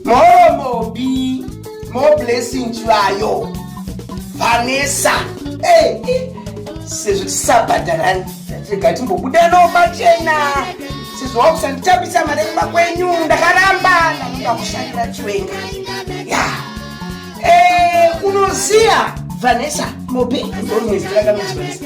More Bobby, more blessing chivayo. Vanessa, hey, eh, sezvo tisabhadharani rega timbobuda nomachena sezvo wakusanditambisa mari kumba kwenyu ndakaramba ndakuda kushandira chiwenga ya eh, unoziva vanessa mopi ndorumwezi ndakanozivanisa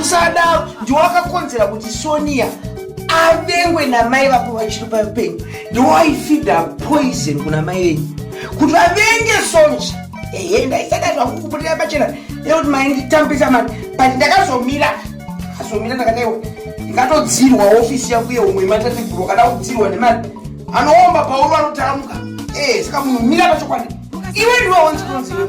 usadaro ndiwe wakakonzera kuti sonia avengwe namai vako vachiri paupenyu ndiwe waifida poison kuna mai venyu kuti vavenge sonji ehe ndaisada zvangu kubudirira pachena nekuti mai nditambisa mani but ndakazomira ndakazomira ndakadaiwa ndikatodzirwa ofisi yangu yeumwe imatatiburo kana kudzirwa nemani anoomba pauri vanotaramuka ee eh, saka munhu mira pachokwadi iwe ndiwe onzi kunziwe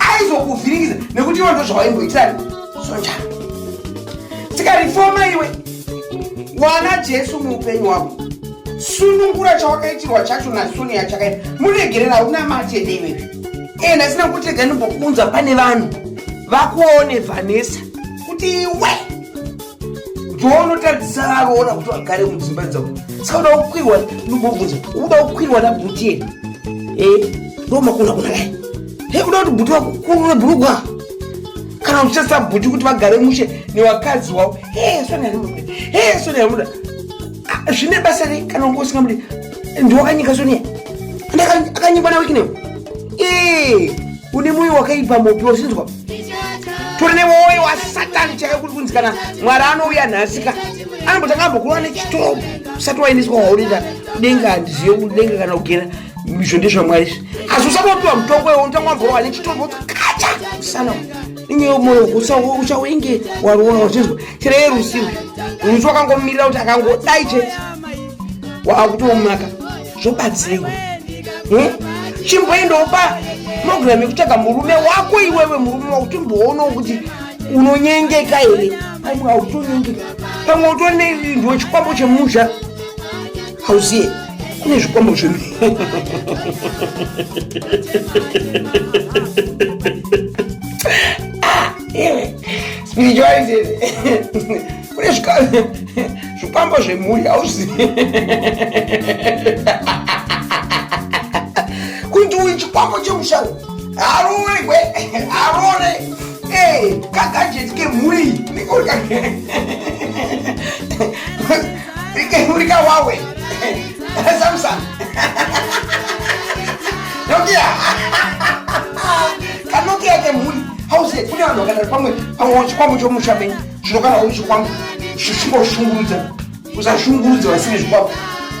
aizokuvhiringidza nekuti ivo ndozvawaimboitira sonja tikarifoma iwe wana jesu muupenyu wavo sunungura chawakaitirwa chacho nasonia chakaita muregerera hauna matete iwe ee ndasina kutega ndimbokunza pane vanhu vakuone vanesa kuti iwe ndoonotadzisa varoona kuti vagare mudzimba dzavo sauda kukwirwa ndobvunza ukuda kukwirwa nabuti yeni e eh, ndomakuna kuna lai he kuda kuti buti vakukurure bhurugwa kana uchitasa buti kuti vagare mushe nevakadzi wavo he soni yarimuda he soni yarimuda ah, zvine basa rei kana unge usingamudi ndiwakanyika soniya akanyikwa nawekinewo ee eh. une moyo wakaipa mopi wausinzwa tore newoyo wasatani chaiyo kuri kunzi kana mwari anouya nhasika anambotanga ambokurova nechitoo usati waendeswa waurira kudenga handizive kudenga kana kugera izvo ndezvamwari izvi asi usati wapiwa mutongo iwo unotanga wamborova nechitombo kacha usana inyeyo moyo uchawenge waroora wachinzwa tireye rusiwe rusi wakangomirira kuti akangodai chete waakutomaka zvobatsirwa hmm? chimboendawo pa program yekutsvaga murume wako iwewe murume wako timboonawo kuti unonyengeka here pamwe hautonyengeka pamwe utori neindiwo chikwambo chemusha hauziye kune zvikwambo zve ah, spirituality kune zvikwambo zvemhuri hauzivi kuti uyu chikwambo chemushau harurekwe harore kagajeti kemhuri kemhuri kawawe samsung nokia kanokia kemhuri hauzivi kune vanhu vakadari pamwe pamwe chikwambo chomusha menyu Zvino kana uri chikwambo zvichimboshungurudza usashungurudza vasine zvikwambo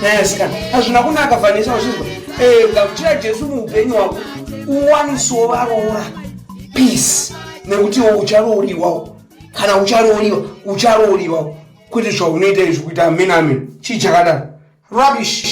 nyaya sikana hazvina kunaka vanesa vachizwa eh, gamuchira jesu muupenyu hwako uwanisewo varoora peace nekuti iwo ucharooriwawo kana ucharooriwa ucharooriwawo kwete zvaunoita izvi kuita amen amen chii chakadaro rubbish